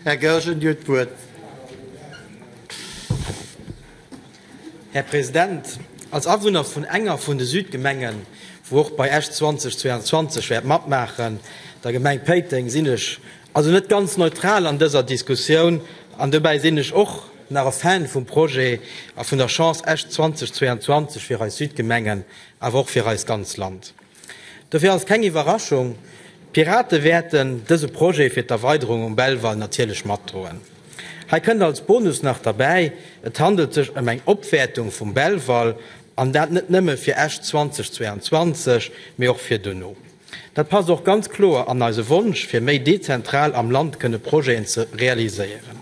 Här Goergen, Dir hutt d'Wuert. Här President, als Awunner vun enger vun de Südgemengen, wou och bei Esch 2022 wäert matmaachen, der Gemeng Péiteng, sinn ech also net ganz neutral an dëser Diskussioun. An dobäi sinn ech och nach e Fan vum Projet a vun der Chance Esch 2022 fir eis Südgemengen, awer och fir eist ganz Land. Dofir ass et keng Iwwerraschung, d'Pirate wäerten dëse Projet fir d'Erweiderung um Belval natierlech matdroen. Hei kënnt als Bonus nach derbäi, et handelt sech ëm eng Opwäertung vum Belval, an dat net nëmme fir Esch 2022, mee och fir duerno. Dat passt och ganz kloer an eise Wonsch, fir méi dezentral am Land kënne Projeten ze realiséieren.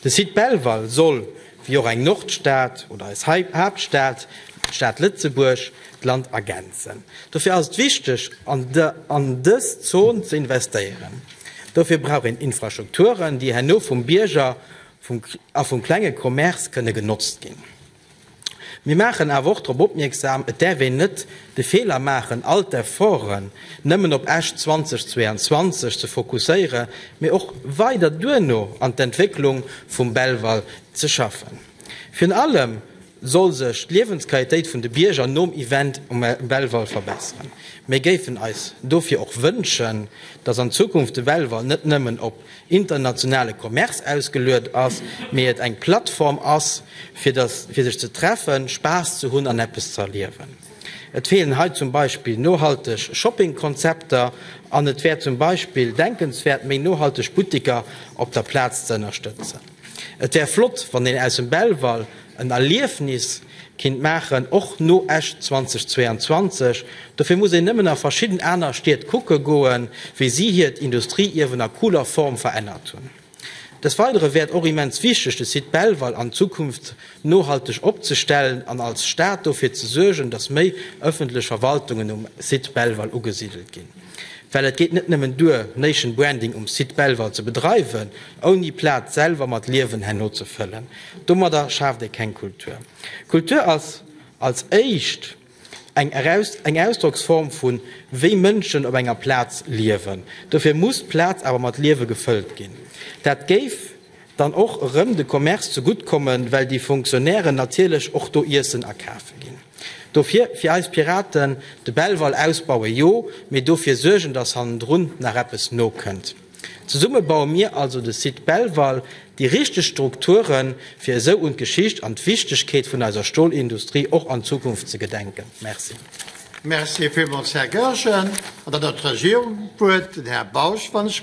De Site Belval soll. wéi och eng Nordstad oder eis Haaptstad, d'Stad Lëtzebuerg, d'Land ergänzen. Dofir ass et wichteg, an dës Zon ze investéieren. Dofir brauch een Infrastrukturen, déi herno vum Bierger a vum klenge Commerce kënne genotzt ginn. Mir maachen awer och drop opmierksam, et däerf een net de Feeler maachen, all d'Efforten, nëmmen op Esch 2022 ze fokusséiere mee och weider duerno an d'Entwécklung vum Belval ze schaffen. Virun allem soll sech d'Liewensqualitéit vun de Bierger nom Event um Belval verbesseren. Mir géifen eis dofir och wënschen, dass an Zukunft de Belval net nëmmen op internationale Commerce ausgeluet ass, mee et eng Plattform ass fir sech ze treffen, Spaass ze hunn an eppes ze erliewen. Et feelen hei zum Beispill nohalteg Shoppingkonzepter an et wär zum Beispill denkenswäert, méi nohalteg Butteker op der Plaz ze ënnerstëtzen. Et wär flott, wann een aus dem Belval en Erliefnis kinnt maachen, och no Esch 2022. Dofir muss een nëmmen a verschidden aner Stied kucke goen, wéi si hiert Industrieierwen a cooler Form verännert hunn. Des Weidere wäert och immens wichteg, de Site Belval an Zukunft nohalteg opzestellen an als Stad dofir ze suergen, datt méi ëffentlech Verwaltungen um Site Belval ugesidelt ginn. Well et geet net nëmmen duer, Nation Branding um Site Belval ze bedreiwen, ouni d'Plaz selwer mat Liewen herno ze fëllen. Domadder schaaft ee keng Kultur. Kultur ass als éischt. eng Ausdrocksform vun wéi Mënschen op enger Plaz liewen. Dofir muss d'Plaz awer mat Liewe gefëllt ginn. Dat géif dann och erëm de Commerce ze gutt kommen, well déi Fonctionnairen natierlech och do Iessen akafe ginn. Dofir fir eis Piraten, de Belval ausbaue jo, mee dofir suergen, datt hannendrun nach eppes nokënnt. Zesumme baue mir also de Site Belval, déi richteg Strukturen, fir esou un d'Geschicht an d'Wichtegkeet vun eiser Stolindustrie och an Zukunft ze gedenken. Merci. Merci villmools, Här Goergen. An dann huet d'Regierung d'Wuert, den Här Bausch, wann ech.